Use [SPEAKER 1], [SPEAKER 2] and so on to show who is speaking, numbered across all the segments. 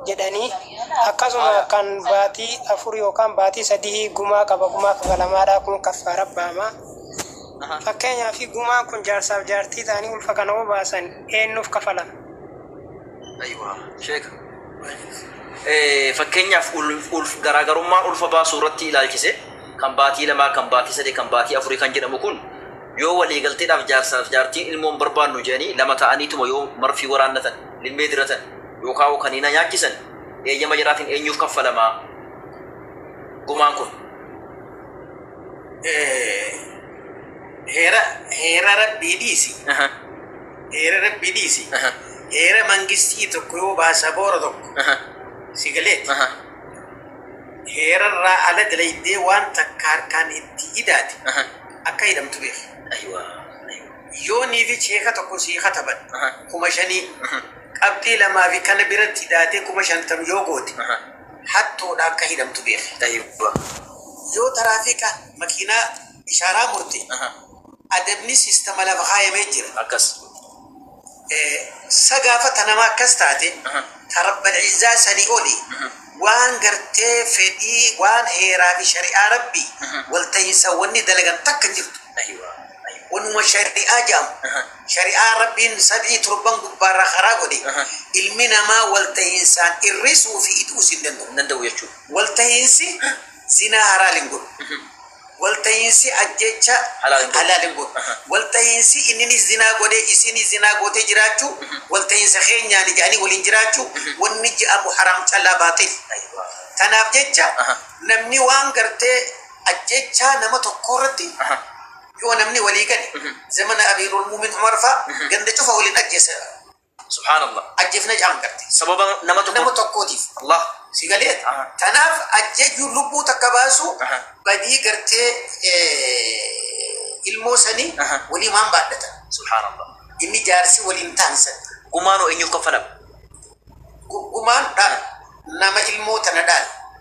[SPEAKER 1] jedhanii akkasuma kan baatii afur yookaan baatii sadii gumaa qaba gumaa kafalamaadhaa kun kaffaara baama. Fakkeenyaa fi gumaan kun jaarsaaf jaartii ta'anii ulfa kana yoo baasan eenyuuf kafalama?
[SPEAKER 2] Aywa, sheeka. Eh, Fakkeenyaaf ul- ulf garaagarummaa ulfa baasuu irratti ilaalchise kan baatii lamaa, kan baatii sadii, kan baatii afurii kan jedhamu kun yoo waliigalteedhaaf jaarsaaf jaartiin ilmoon barbaannu jedhanii lama ta'aniituma yoo marfii waraannatan limmee diratan yookaawoo kaniina nyaachisan eeyyama jaraatiin eenyuuf kaffalama gumaan kun?
[SPEAKER 3] Heera heera rabbii dhiisi. Aha, Heera rabbii dhiisi. aha, Heera mangistii tokko yoo baasaboora tokko aha, si galeeti. aha, Heerarraa ala dalaydee waan takka harkaan itti idaate aha. akka hidhamtu beeku. Aywa, aywa. Yoo niifi cheeka tokko sii kataban kuma shanii qabxii lamaa fi kana biratti daatee kuma shantam yoo goote hattuudha akka hidhamtu beeki. Yoo taraafiika makiinaa ishaaraa murte adabni sistama lafa kaayamee jira.
[SPEAKER 2] Sa
[SPEAKER 3] gaafa tanamaa akkas taate ta Rabbal Izzaa sanii oli waan gartee fedhii waan heeraa fi shari'aa Rabbii wal tahinsa wanni dalagan takka hin jirtu. Ayiwa. Ayiwa. Wanuma shari'aa jedhamu. Aha. Shari'aa Rabbiin sadii torban gubbaarraa karaa godhe Aha. ilmi namaa walta'iinsaan irrisuu fi idu'uus hin danda'u. Hin danda'u jechuudha. Walta'iinsi zinaa haraal hin godhu. Mhm. Walta'iinsi ajjeechaa Halaal hin godhu. halaal hin godhu. Aha. Walta'iinsi inninis zinaa godhee isiinis zinaa gootee jiraachuu walta'iinsa keenyaani jedhanii waliin jiraachuu wanni je'amu haraam callaa baaxil. Ayiwa. Tanaaf jecha Aha. namni waan gartee ajjeechaa nama tokkoo irratti yoo namni walii gale zamana amiirul muumin umar faa ganda cufa waliin ajjeessa subhaanallah
[SPEAKER 2] ajjeefna ja'an
[SPEAKER 3] garte sababa nama tokko nama
[SPEAKER 2] tokkootiif allah si
[SPEAKER 3] galee Aha. tanaaf ajjeejuun lubbuu takka baasu Aha. badii gartee eh, ilmoo sanii Aha. walii maan baadhatan subhaanallah
[SPEAKER 2] inni jaarsi
[SPEAKER 3] waliin taansan gumaanoo eenyuuf
[SPEAKER 2] kaffalama
[SPEAKER 3] gumaan dhaal nama ilmoo tana dhaal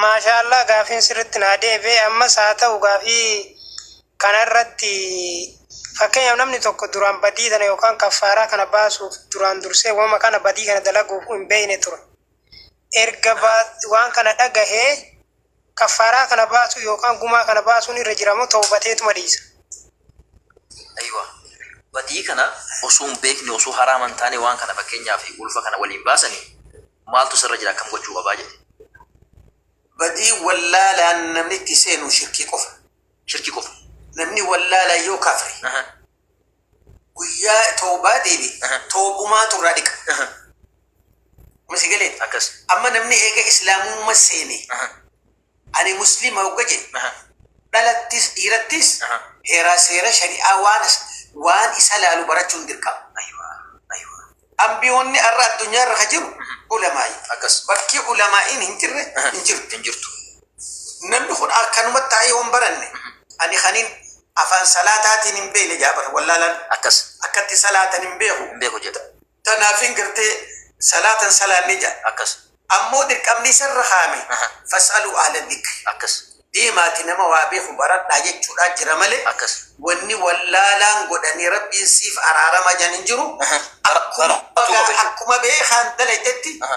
[SPEAKER 2] Maashaa
[SPEAKER 1] Allah gaafiin sirritti naa deebi'e ammas haa ta'u gaafii kanarratti fakkeenyaaf namni tokko duraan badii tana yookaan kaffaaraa kana baasuuf duraan dursee wama kana badii kana dalaguuf hin beeyne ture erga waan kana dhagahee kaffaaraa kana baasuu yookaan gumaa kana baasuun irra jiramoo tawbateetuma dhiisa.
[SPEAKER 2] Aywa. Badii kana osoo hin beekne osoo haraama hin taane waan kana fakkeenyaaf ulfa kana waliin baasanii maaltu sirra jira akkam gochuu qabaa jedhe.
[SPEAKER 3] Badii wallaalaan namni itti seenu shirkii qofa. shirkii qofa.
[SPEAKER 2] Namni wallaalaan yoo kafre
[SPEAKER 3] Aha. guyyaa tawbaa deebi Aha. tawbumaatu irraa dhiqa. Aha. Masi galee akkas. amma
[SPEAKER 2] namni eega
[SPEAKER 3] islaamumma seene Aha. Ani Muslima hogga jedhe dhalattis dhiirattis heeraa seera shari'aa waan waan isa laalu barachuun dirqama. Anbiyoonni arra addunyaa irra ka jiru ulamaa'i. Bakki
[SPEAKER 2] ulamaa'iin
[SPEAKER 3] hin jirre hin jirtu. Namni kun akkanuma taa'ee yoo hin baranne ani kanin afaan salaataatiin hin beekne jedha bar wallaalaan. Akkatti
[SPEAKER 2] salaatan
[SPEAKER 3] hin beeku jedha.
[SPEAKER 2] Tanaafiin gartee
[SPEAKER 3] salaatan salaannee jedhan. Akkas. Ammoo
[SPEAKER 2] dirqamni
[SPEAKER 3] isarra kaa'ame Aha. fas'aluu ahla dhikri. Akkas. Deemaati
[SPEAKER 2] nama
[SPEAKER 3] waa beeku baradhaa jechuudhaa jira malee Akkas. wanni
[SPEAKER 2] wallaalaan
[SPEAKER 3] godhanii rabbiin siif araarama jedhan hin jiru. Aha. Akkuma Bara- bara- bagaa- akkuma beekaan dalaytetti Aha.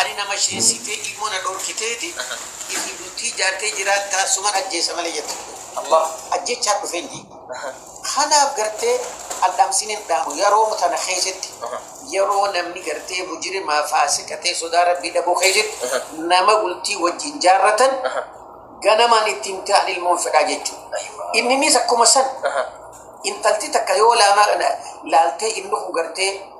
[SPEAKER 3] Ani na masheesitee ilmo na dhorkiteeti itii bultii ijaartee jiraattaa suman ajjeesa malee jette
[SPEAKER 2] ajjechaan dhufee hin
[SPEAKER 3] diigu kanaaf gartee an dhamsin hin dhaamu yaroo tana keesetti yaroo namni gartee mujirimaa faasiqa ta'e sodaa rabbii dhabuu keesetti nama bultii wajjin jaarratan ganamaan itti himtee an ilmoon fedhaa jechuu inninis akkuma san intalti takka yoo laamaa kana laaltee inni kun gartee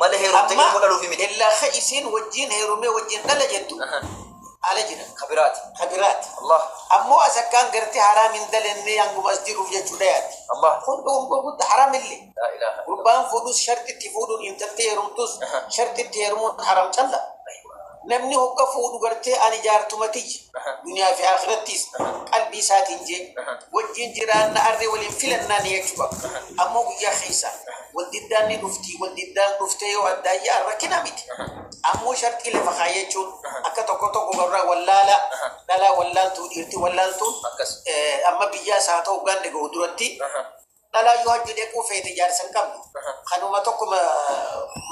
[SPEAKER 2] Mala heerumte Amma ilmoo dhaluufi miti. illaa ka isiin wajjiin
[SPEAKER 3] heerumee wajjiin dhala jettu Aha. ala jira Ka biraati. ka biraati Allah. ammoo as akkaan gartee haraam hin dalennee hanguma as jiruuf jechuudha yaaddi Allah. kun dhugummaa
[SPEAKER 2] guddaa haraam
[SPEAKER 3] illee Laa ilaaha. gurbaan
[SPEAKER 2] fuudhus
[SPEAKER 3] shartitti fuudhuun intaltee heerumtus Aha. shartitti heerumuun haraam calla Namni hogga fuudhu gartee ani jaartuma tiyya duniyaa fi aakhirattiis qalbii isaatiin jee wajjiin jiraanna arri waliin filannaa niyachuu qaba. Ammoo guyyaa kheeysa wal diddaan ni dhufti wal diddaan dhuftee yoo addaan ya'an rakkina miti. Ammoo sharxii lafa khaayyachuun akka tokko tokko gabraa wallaalaa dhalaa wallaaltuu dhiirti wallaaltuun amma biyyaas haa ta'u ganda gahu duratti Dhalaa yoo hajji dhequu feete jaarsa hin qabdu. Kanuma tokkuma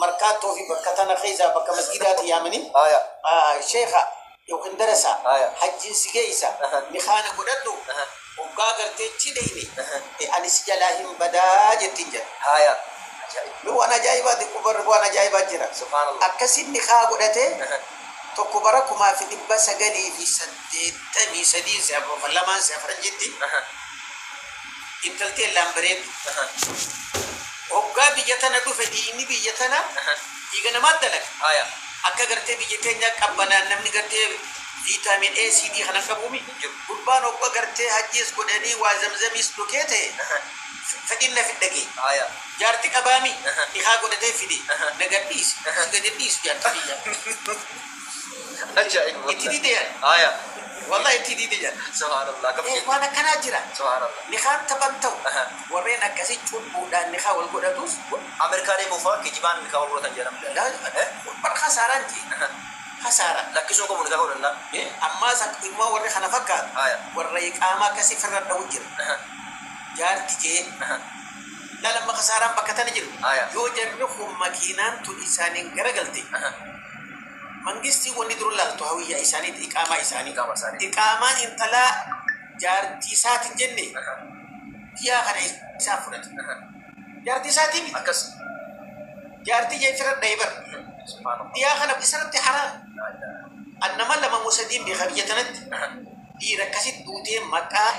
[SPEAKER 3] markaattoo fi bakka tana keessaa bakka masgidaati yaamanii sheekha yookiin darasaa hajjiin si geessa nikaana godhadhu hoggaa gartee chi dheeyne ani si jalaa hin badaa jettiin jedha. Ni waan ajaa'ibaati kubar waan ajaa'ibaa jira. Akkasiin
[SPEAKER 2] nikaa godhatee
[SPEAKER 3] tokko bara kumaa fi dhibba sagalii fi saddeettamii sadii si'a lamaan si'a faranjiitti Intal tee illaan bareeddu. Hoggaa biyya tana dhufe dhiiyni biyya tana dhiiga namaat dalaga. Akka gartee biyya teenyaa qabbanaan namni gartee vitamin A, C, D kana hin qabuumi? Hin jiru. Gurbaan hogga gartee hajjiis godhanii waa zamzamiis dhukee ta'e fedhiin na fidda gee. Jaarti qabaami? Nikhaa godhatee fide. Na gad dhiisi. Si gad hin dhiisu jaarti tiyyaa. Ajaa'iba Itti diide jan. Aya. Wallah itti diide jan. Subhaanallah akkam jetti.
[SPEAKER 2] Waan akkanaa jira.
[SPEAKER 3] Subhaanallah. Nikaan
[SPEAKER 2] taphan ta'u. Aha.
[SPEAKER 3] Warreen akkasii cubbuudhaan nikaa wal godhatus. Amerikaa deemuu faa
[SPEAKER 2] kijibaan nikaa wal godhatan jedhan. Laa bar kasaaraa
[SPEAKER 3] miti. Aha. Kasaaraa. Lakkisuu hin qabu nikaa
[SPEAKER 2] godhannaan. Ee ammaas akka
[SPEAKER 3] inumaa warri kana fakkaatu. Aya. Warra iqaamaa akkasii ifirra dhawu jira. Aha. Jaarti kee. Aha. Laal amma kasaaraan bakka tana jiru. Aya. Yoo jarri kun makiinaan tun isaaniin garagalte. Aha. Mangistii wanni dura laaltu hawiyyaa isaaniiti, iqaamaa isaanii. Iqaamaan intalaa jaartii isaati hin jenne? Biyyaa kana eessaaf fudhate? Jaartii isaatii miti. Akkas. Jaartii jecha irra dhahe bar. Subhaanallah. Biyyaa kana isarratti haraam. An nama lama moo sadiin beeka biyya tanatti. Dhiira akkasitti duutee maqaan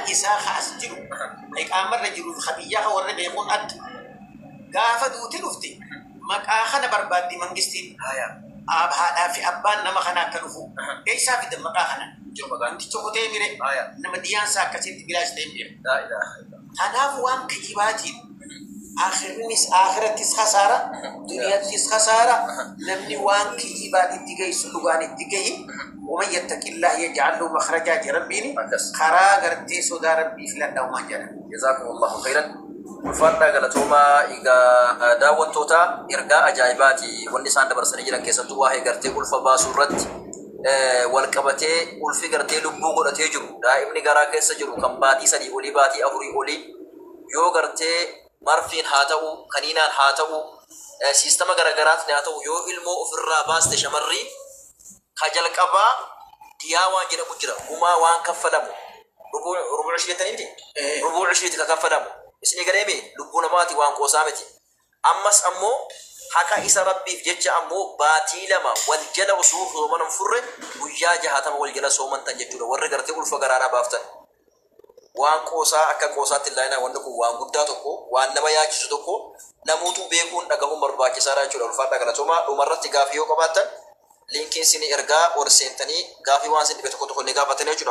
[SPEAKER 3] isaa ka as jiru, ka iqaamarra jiru, ka biyyaa ka warra beekuun adda. Gaafa duute dhufte Maqaa kana barbaaddi mangistiin. Aab haadhaa fi abbaan nama kanaa akka dhufu eessaa fidan maqaa kana? Wanti tokko ta'ee mire nama diyaan isaa akkasitti bilaash ta'een beeku.
[SPEAKER 2] Tanaaf waan kijibaatiin
[SPEAKER 3] aakhirnis aakhirattis khasaara, duniyattis khasaara, namni waan kijibaan itti geessu dhugaan itti gahi, waman yattaqillaah yaj'al lahu makhrajaa je Rabbiin, karaa gartee sodaa Rabbii filadhaumaan jedha. Jazaakumullaahu khayran.
[SPEAKER 2] Ulfaadhaa galatoomaa egaa daawwattootaa ergaa ajaa'ibaati wanni isaan dabarsanii jiran keessattuu waa'ee gartee ulfa baasuu irratti wal qabatee ulfi gartee lubbuu godhatee jiru daa'imni garaa keessa jiru kan baatii sadii olii baatii afurii olii yoo gartee marfiin haa ta'u kaniinaan haa ta'u siistama garagaraatni haa ta'u yoo ilmoo ofirraa baaste shamarrii Ka jalqabaa diyaa waan jedhamu jira, gumaa waan kaffalamu, rubu, rubu ushrii jettanii miti? Rubu ushriiti ka kaffalamu. Isinii galee mii? Lubbuu namaati waan qoosaa miti. Ammas ammoo haqa isa Rabbiif jecha ammoo baatii lama wal jala osoo soomana hin furre guyyaa jahaatama wal jala soomantan jechuudha warri gartee ulfa garaadhaa baaftan. Waan qoosaa akka qoosaatti illaaiinaan wanni kun waan guddaa tokko, waan nama yaachisu tokko namuutuu beekuun, dhagahuun barbaachisaadha jechuudha. Ulfaadhaa galatoomaa. Dhumarratti gaafii yoo qabaattan linkiin siinii ergaa ol seentanii gaafii waan siin dhibe tokko tokko ni gaafattanii jechuudha.